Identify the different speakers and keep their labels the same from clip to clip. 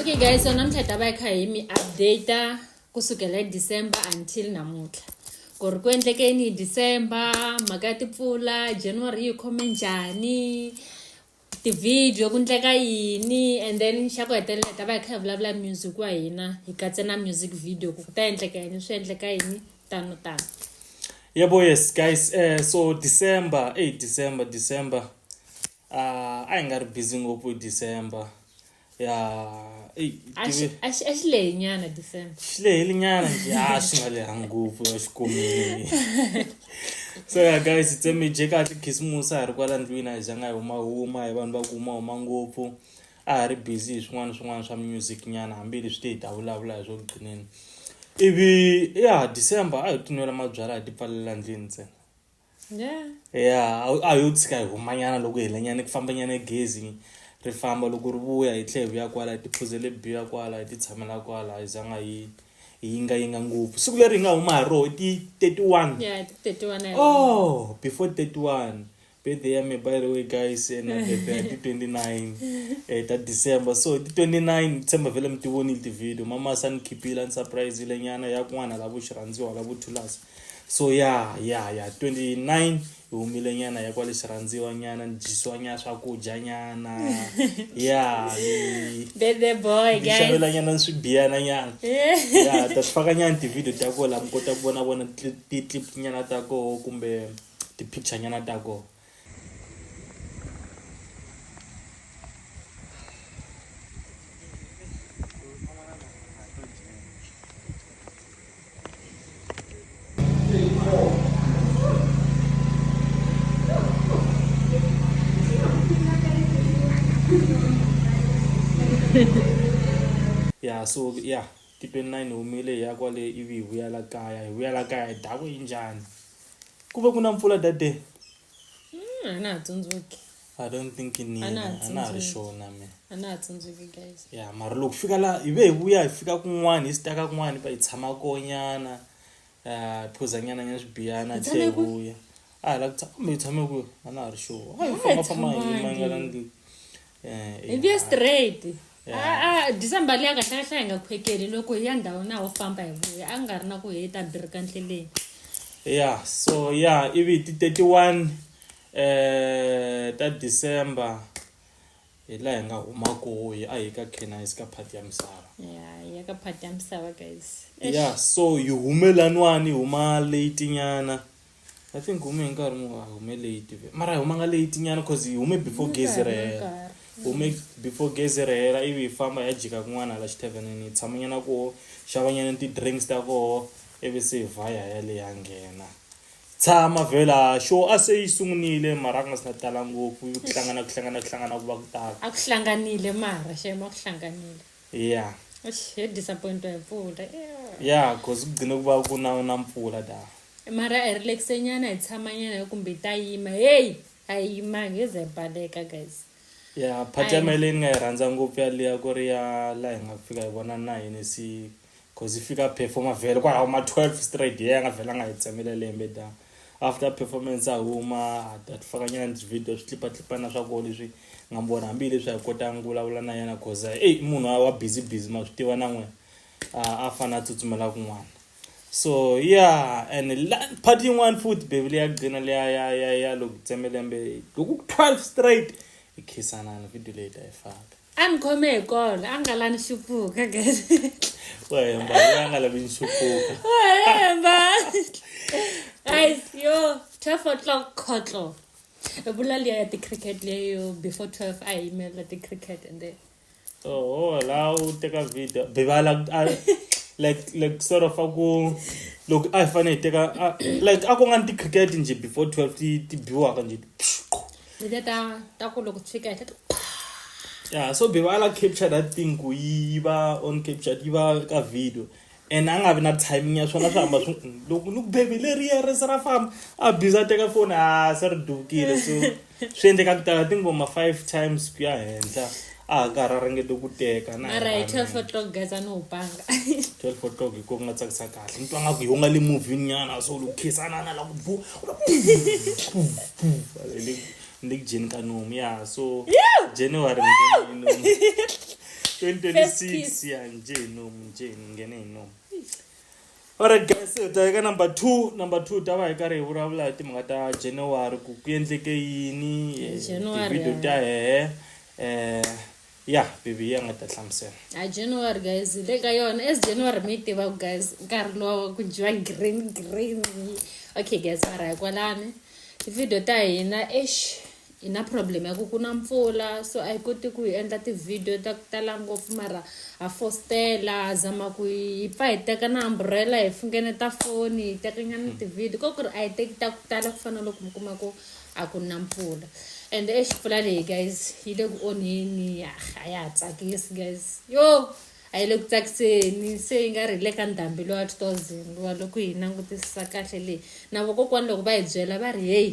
Speaker 1: okay guys so namuntlha hi ta va yi kha hi mi updata kusukela hi december until namuntlha ku ri ku endlekeni hi december mhaka ya tipfula january yi khome njhani tivhidiyo ku ndleka yini and then xa ku hetelela hi ta va hi kha hi vulavula music wa hina hi katse na music video ku ku ta endleka yini swi endleka yini tano tano yebo yes guys um so december eyi december december Ah, a hi nga ri busy ngopfu hi december ya eyi a xi tive- a xi- a xi lehe nyana december xi leheli nyana nje a swi nga leha ngopfu ya xikomile so ya guys hi tsemeje kahle khisimusi a hi ri kwala ndlwini a hi zanga hi humahuma hi vanhu va ku humahuma ngopfu a ha ri busy hi swin'wana swin'wana swa music nyana hambileswi te hi ta vulavula hi swo gqineni ivi ya december a hi tinwela mabyalwa hi ti pfalela ndlwini ntsena yeah yeah a yo tshika hi humanyana loko hi lenyana ku famba nyana gezi ri famba loko ri vuya hi tlhe hi vuya kwala hi tiphuzele biya kwala hi ti tshamela kwala hi zanga hi hi yinga yinga ngopfu siku leri hi nga huma hi roho ti 31 yeah ti 31 oh before 31 birthday ya me by the way guys and birthday ti 29 eh ta december so ti 29 december vele mi ti vonile ti video mama san khipila ni surprise ile nyana ya kun'wana la vo xirhandziwa la vo thulasa so ya ya ya 29 hi humile nyana ya kwale xirhandziwa nyana ni dyisiwa nyana swakudya nyana ya xavela nyana ni swibiyana nyana ya ta swi faka nyana ti-video ta koho laha mi kota ku vona vona ti-clip nyana ta koho kumbe ti-picture nyana ta koho ya so ya ti-twenty nine ni humile hi ya kwale ivi hi vuyela kaya hi vuyela kaya hi dakwe hi njhani. Ku ve ku na mpfula that day? Mm, a na ha tsundzuki I don't think ni A na ha a na ha ri tsundzuki. sure na mina. a na ha tsundzuki guys Ya mara loko fika la hi ve hi vuya hi fika kun'wana hi staka kun'wana hi pa hi tshama konyana ah, hi phuza nyana nyana swibiyana hi Hi tlhela hi tshame kwi? vuya. A hi la ku tshama kumbe hi tshame kwihi? A na ha ri sure. A hi Hi nga famba famba hi tshamangi. mangala ndlwini. Eh, hi vuye straight a dyisa mbali ya kahlekahle hi nga khwekeli loko hi ya ndhawu na wo famba hi vuya a nga ri na ku hi ta birika ndleleni ya so ya ivi ti 31 eh ta december hi laha hi nga huma kohi a hi ka canise ka phati ya misava ya ya ka phati ya misava guys ya so yi humelanwani huma late nyana i think hume hi nkarhi mu a hume late ve mara hi humanga late nyana cause hi hume before gezi ri hela hume before gezi ri hela ivi hi famba hi ya jika kun'wana hala xithavenini hi tshamanyana koho xavanyana ti-drinks ta koho ivi se hi vha hi ya le ya nghena tshama vhela xo a se yi sungunile mara ku nga si na tala ngopfu ku hlangana ku hlangana ku hlangana ku va ku tala a ku hlanganile mara xema ku hlanganile yeah eish yadisappointwa yimvula yeah. yeah because kugcine ukuba kuna unampfula da mara i relaxe nyana hi tshama nyana kumbe ta yima heyi a yi yimangi yi ze baleka guys ya phathi ya Ai. mele ni nga yi rhandza ngopfu yaliya ku ri ya laha hi nga fika hi vona na yini si cause yi fika performa vhele kwalaho ma 12 straight ye a nga vhela a nga hi tsemela lembe da after performance a huma a tifakanyana ni video swi tlipatlipana swa koho leswi nga mi vona hambileswi a hi kotanga ku vulavula na yena cause ey munhu wa busy busy ma swi tiva na n'wina a fanele a tsutsumela kun'wana so yeah and part yin'wana futhi bebi leya gcina leya ya ya ya loko tsemelembe loko ku 12 straight ikhisanana video leyi ta yi faka a ni khome hi kona a nga la ni xupuka wa hemba a nga lavi ni xupuka wa hemba guys yo 12 o'clock khotlo vula liya ya ti-cricket leyo before 12 a hi yimela ti-cricket and then oho la u teka video bivala like like sort of a ku loko a hi fanele hi teka like a ku nga ni ti-cricket njhe before 12 ti biwaka njhe letiya ta ta ku loko ti fika henhla ya so beba a la capture that thing ku yi va on capture yi va ka video and a nga vi na timing ya swona swi hamba swi loko ni ku bebe leriya ri se ra famba a biza a teka foni a se ri dukile so swi endleka ku tala tingoma five times ku ya henhla a ha nga ha ra ringete ku teka na mara hi 12 o'clock guys a ni wu panga 12 o'clock hi ko ku nga tsakisa kahle ni twa nga ku hi nga le movini nyana so loko khisanana la ku bvu ni le ku jeni ka nomu ya so january ngene hi nomu 2026 ya nje hi nomu nje ni nghene hi nomu Alright guys, hi ta eka number 2. Number 2 ta va hi karhi hi vulavula hi timhaka ta January ku ku endleke yini eh, January, video ta hehe eh ya bibi ya nga ta hlamusela a january guys hi le ka yona as january mi yi tivaku guys nkarhi lowa ku dyiwa green green okay guys mara hi kwalani tivideo ta hina esh Hi na problem ya ku ku na mpfula so a hi koti ku hi endla ti-video ta ku tala ngopfu mara ha fostela ha zama ku hi pfa hi teka na umbrella hi fungeneta foni hi tekanyana ti-video ko ku ri a hi teki ta ku tala ku fana na loko mi kuma ku a ku na mpfula and exi mpfula leyi guys yi le ku onheni ya a ya ha tsakisi guys yo a yi le ku tsakiseni se yi nga ri le ka ndhambi lowa two thousand wa loko hi langutisisa kahle leyi na vokokwani loko va hi byela va ri heyi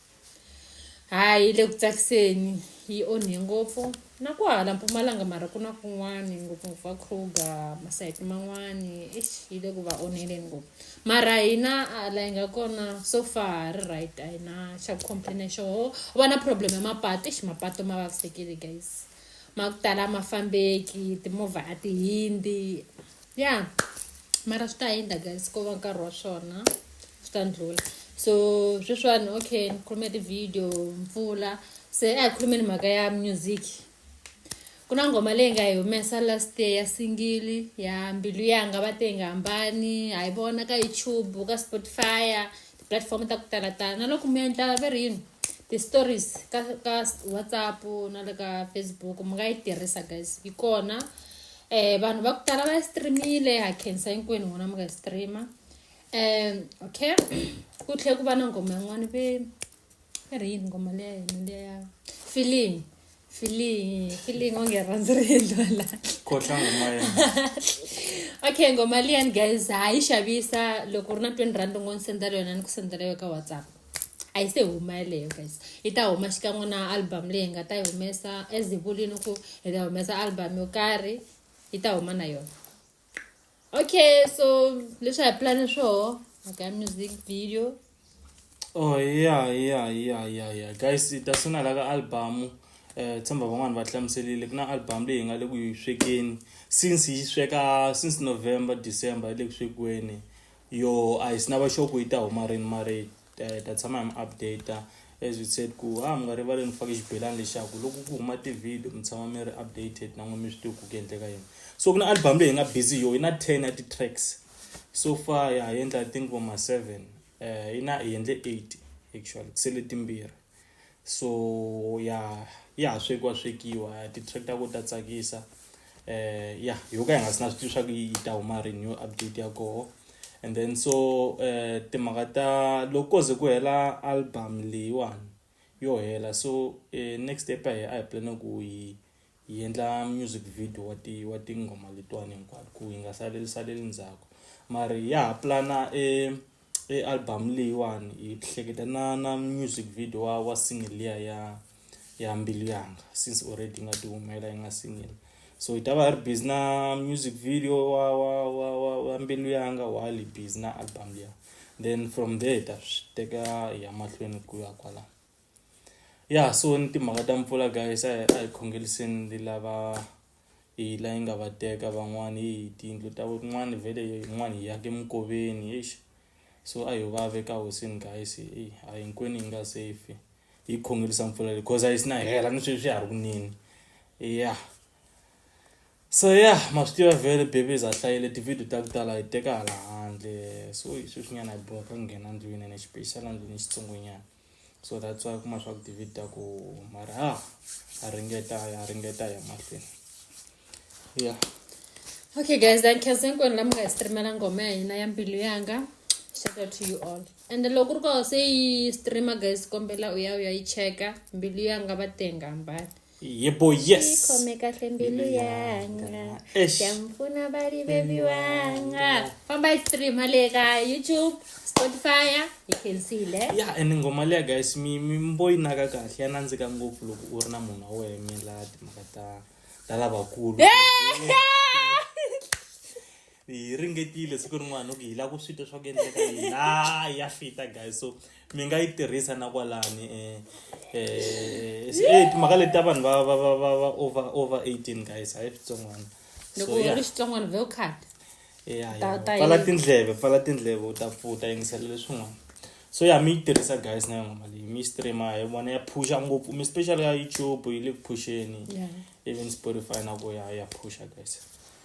Speaker 1: hayi le ku tsakiseni yi onhe ngopfu na ku hala mpumalanga mara ku na kun'wani ngopfungopfu va kruger masayiti man'wani eish yi le ku va onheleni ngopfu mara hina hala yi nga kona so far ha ri right a hi na xa ku complaina hi xoho u va na problem ya mapatu eish mapatu ma vavisekile guys ma ku tala a ma fambeki timovha a ti hindzi ya yeah. mara swi ta hindza guys ko va nkarhi wa swona swi ta ndlula so sweswiwani okay ni khulume ti-video mpfula se a hi khulumeni mhaka ya music ku na ngoma leyi nga hi humesa last year ya singili ya mbilu yanga va te yi nga hambani ha yi vona ka youtube ka spotify ti-platform ta ku tala tala na loko mi endla ve ri yini ti-stories ka ka whatsapp na le ka facebook mi nga yi tirhisa guys yi kona eh vanhu va ku tala va yi streamile ha khensa hinkwenu n'wina mi nga yi streama um okay ku tlhela ku va na nghoma yin'wana ve i ri yini nghoma leya yini leya ya feeling feeling feeling onge rhandzi ri endliwa laha khotlha ngoma ya okay ngoma liyani guys ha yi xavisa loko u ri na twenty rand u ngo ni sendela yona ni ku sendela yo ka whatsapp a yi se huma yeleyo guys yi ta huma xikan'we na album leyi hi nga ta yi humesa as hi vulini ku hi ta humesa album yo karhi yi ta huma na yona okay so leswi hi plane swoho aka music video oh yeah yeah yeah yeah yeah guys hi ta sungula la ka album eh tshemba van'wani va hlamuselile ku na album leyi hi nga le ku yi swekeni since yi sweka since november december yi le ku swekiweni Yo a hi sina va sure ku yi ta huma rini mara hi ta tshama hi mi update as we said ku ha mi nga rivali ni fake xibelani lexaku loko ku huma ti-video mi tshama mi ri updated na n'we mi swi tivi ku ku endleka yini so ku na album leyi hi nga busy yo yi na ten ya ti-tracks so far ya hi endla i think vo ma seven um yi na hi endle eight actually ku sele timbirhi so ya ya ha swekiwa swekiwa ti-tractor ku ta tsakisa eh ya yo ka hi nga si na swi tivi swa ku yi ta huma rini yo update ya koho and then so eh timhaka ta loko ko ze ku hela album leyiwani yo hela so eh next step a hi a hi plane ku yi Hi endla music video wa ti wa tinghoma letiwani hinkwato ku yi nga saleli saleli ndzhaku mara hi ya ha pulana e e album leyiwani hi hleketa na na music video wa wa single liya ya ya mbilu yanga since already yi nga ti humela yi nga single so hi ta va hi ri busy na music video wa wa wa wa wa mbilu yanga while hi busy na album liya then from there hi ta swi teka hi ya mahlweni ku ya kwalano. ya so ni timhaka ta mpfula guys a hi a hi khongeliseni ni lava hi la yi nga va teka van'wani hi tiyindlu ta kun'wani vhele yin'wani hi yake minkoveni eish so a hi vave ka hosini guys eyi a hinkwenu hi nga safe hi khongelisa mpfula leyi cause a yi si na hela ni sweswi ya ha ri kunini ya so ya ma swi tiva vhele babies a hlayile tivhidiyo ta ku tala hi teka hala handle so hi sweswinyana hi bohaka ku nghena ndlwini ene xipexala ndlwini xitsongonyana so that's why kuma swa ku david ta ku mara ha a ringeta a ringeta ya mahlweni ya okay guys thank you hinkwenu la mi nga hi streamela ngoma ya hina ya mbilu yanga shout out to you all and loko ri koho se yi streamer guys kombela u ya u ya yi cheka mbilu yanga va tenga mbali yebo yes khome kahle mbilu yanga xamupfuna variveli wanga famba yi streama le ka youtube spotify you can see le ya and nghoma leya guys mi mi mbo yi naka kahle ya nandzika ngopfu loko u ri na munhu wa wena mi la timhaka ta ta lavakulu hi ringetile siku rin'wana ku hi lava ku swi twa swa ku endleka yini ha ya fita guys so mi nga yi tirhisa na kwalani um um timhaka leti ta vanhu va va va va va over over eighteen guys hayi switsongwana loko u ri xitsongwana vhe u khata pfala tindleve pfala tindleve u ta pfuta yingisela leswin'wana so ya mi yi tirhisa guys na yona mali mi streama hi vona ya phusha ngopfu mi special ya youtube yi le ku phuxeni even spotify na ku ya ya phusha guys